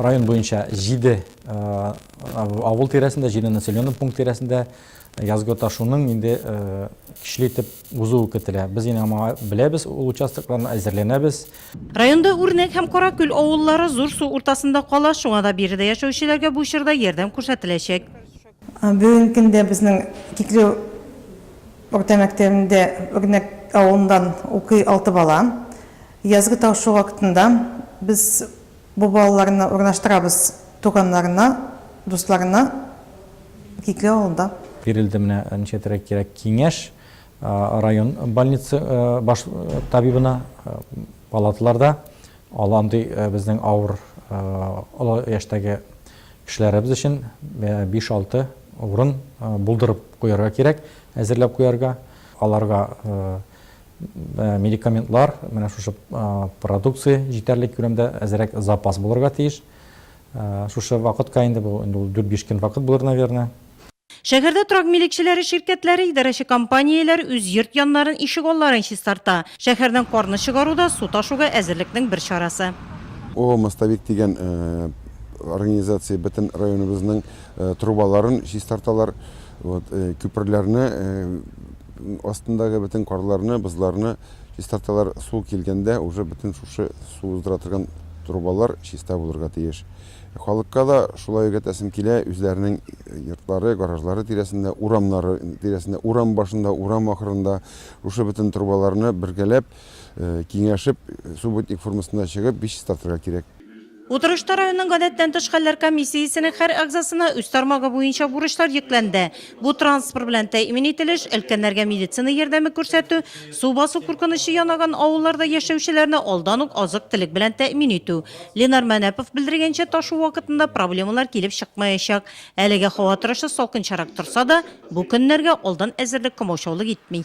Район буенча җиде авыл тирәсендә, җиде населенный пункт тирәсендә язгы ташуның инде көчле итеп узуы көтелә. Без инде моңа беләбез, ул участокларны әзерләнәбез. Районда Үрнәк һәм Каракүл авыллары зур су уртасында кала, шуңа да биредә яшәүчеләргә бу чорда ярдәм күрсәтеләчәк. Бүгенге көндә безнең Киклеу урта мәктәбендә Үрнәк авылыннан укый алты бала. Язгы тапшыру вакытында без бу балаларны урнаштырабыз туганнарына, дусларына Киклеу авылында. Бирелде менә ничәтәргә кирәк киңәш район больница баш табибына, палаталарда андый безнең авыр, олы яшьтәге. Кешеләребез өчен биш-алты урын булдырып куярга кирәк, әзерләп куярга. Аларга медикаментлар, менә шушы продукция җитәрлек күләмдә әзерәк запас булырга тиеш. Шушы вакытка инде, бу инде ул дүрт-биш көн вакыт булыр, наверное. Шәһәрдә торак милекчеләре ширкәтләре, идарәче компанияләр үз йорт яннарын, ишегалларын чистарта. Шәһәрдән карны чыгару да су ташуга әзерлекнең бер чарасы. ООО Мостовик дигән организация бөтен районыбызның трубаларын чистарталар. Вот, күперләрне астындагы бөтен карларны, бозларны чистарталар. Су килгәндә уже бөтен шушы су уздыра торган трубалар чиста булырга тиеш. Халыкка да шулай өйрәтәсем килә, үзләренең йортлары, гаражлары тирәсендә, урамнары тирәсендә, урам башында, урам ахырында шушы бөтен трубаларны бергәләп, киңәшеп, субботник формасында чыгып, биш чистартырга кирәк. Утырышта районның гадәттән тыш хәлләр комиссиясенең һәр әгъзасына үз тармагы буенча бурычлар йөкләнде. Бу транспорт белән тәэмин ителеш, өлкәннәргә медицина ярдәме күрсәтү, су басу куркынычы янаган авылларда яшәүчеләрне алдан ук азык-төлек белән тәэмин итү, Ленар Мәнәпов белдергәнчә, ташу вакытында проблемалар килеп чыкмаячак. Әлегә һава торышы салкынчарак торса да, бу көннәргә алдан әзерлек комаучаулык итми.